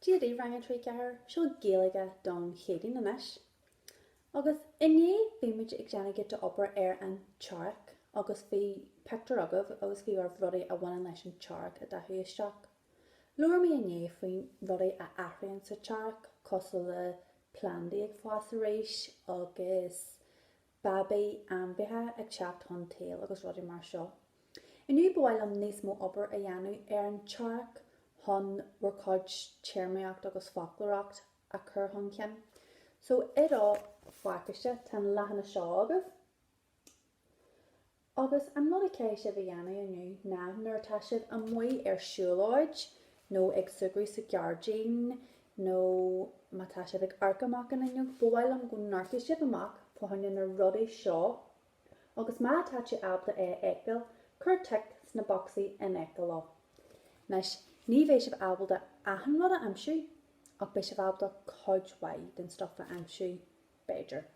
Dia daoibh Rang 3 4 seo Gaeilge don Chéadaoin anois agus inné bhí muid ag déanamh giota obair ar an tEarrach agus bhí pictiúir agaibh agus bhí oraibh rudaí a bhaineann leis an tEarrach a dhathú isteach. Labhair mé inné faoi rudaí a athraíonn sa tEarrach cosúil le plandaí ag fás arís agus Babaí ainmhithe ag teacht chun tsaoil agus rudaí mar seo. Inniu ba mhaith liom níos mó obair a dhéanamh ar an tEarrach chun bhur cuid téarmaíocht agus foclóireacht a chur chun cinn. So i do phacáiste tá an leathanach seo agaibh. Agus an rud a chaithfidh sibh a dhéanamh inniu ná nuair atá sibh amuigh ar siúlóid nó ag súgradh sa ghairdín nó má tá sibh ag amharc amach an fhuinneog, ba mhaith liom go n-amharcfaidh sibh amach fá choinne na rudaí seo agus má tá tú ábalta é a fheiceáil, cuir tic sna bocsaí in aice leo. Anois, ní bheidh sibh ábalta achan rud a aimsiú ach beidh sibh ábalta cuid mhaith den stuff a aimsiú, b'fhéidir.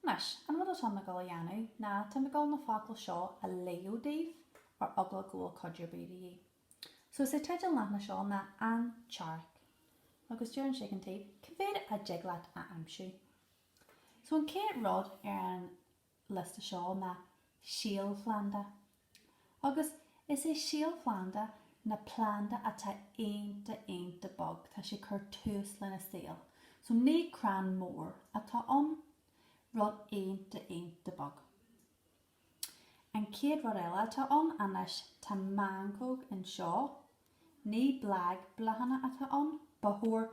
Anois, an rud atáim ag dul a dhéanamh ná táim ag dul na focail seo a léamh daoibh ar eagla go bhfuil cuidiú ar bith de dhíth. So is é teideal an leathanaigh seo ná An tEarrach. Agus deireann sé ag an taobh, cé mhéad a dtig leat a aimsiú? So an chéad rud ar an liosta seo ná síolphlanda. Agus is é síolphlanda ná planda atá iontach iontach beag, tá sé ag cur tús lena saol. So ní crann mór atá ann, rud iontach iontach beag. An chéad rud eile atá ann, anois tá meancóg anseo, ní blag, bláthanna atá ann, ba chóir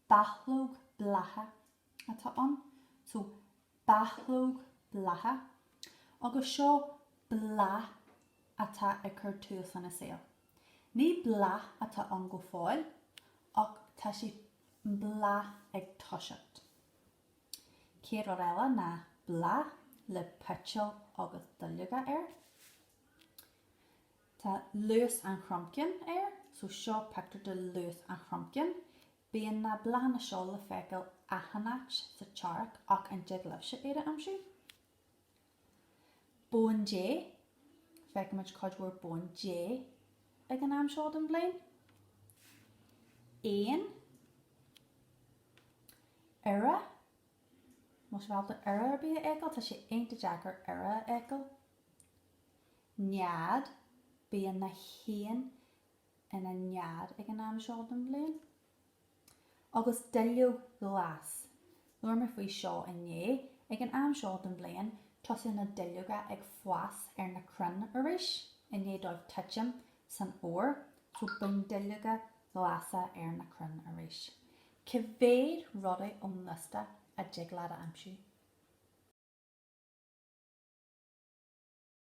Bachlóg blátha atá ann. So bachlóg blátha agus seo bláth atá ag cur tús lena saol. Ní bláth atá ann go fóill ach tá sé, an bláth, ag toiseacht. Céad rud eile ná bláth le peitil agus duilleoga air. Tá lus an chromchinn air so seo pictiúr de lus an chromchinn. Bíonn na bláthanna seo le feiceáil achan áit sa tEarrach ach an dtig libhse iad a aimsiú? Bóin Dé, Feicimid cuid mhór bóin Dé ag an am seo den bhliain. Éin, Iora, Más ábalta iora ar bith a fheiceáil, tá sé iontach deacair iora a fheiceáil. Nead, Bíonn na héin ina nead ag an am seo den bhliain. Agus duilleog ghlas. Labhair mé faoi seo inné. Ag an am seo den bhliain, tosaíonn na duilleoga ag fás ar na crainn arís i ndiaidh dóibh titim san fhómhar. So bíonn duilleoga glasa ar na crainn arís. Cé mhéad rudaí ón liosta a dtig leat a aimsiú?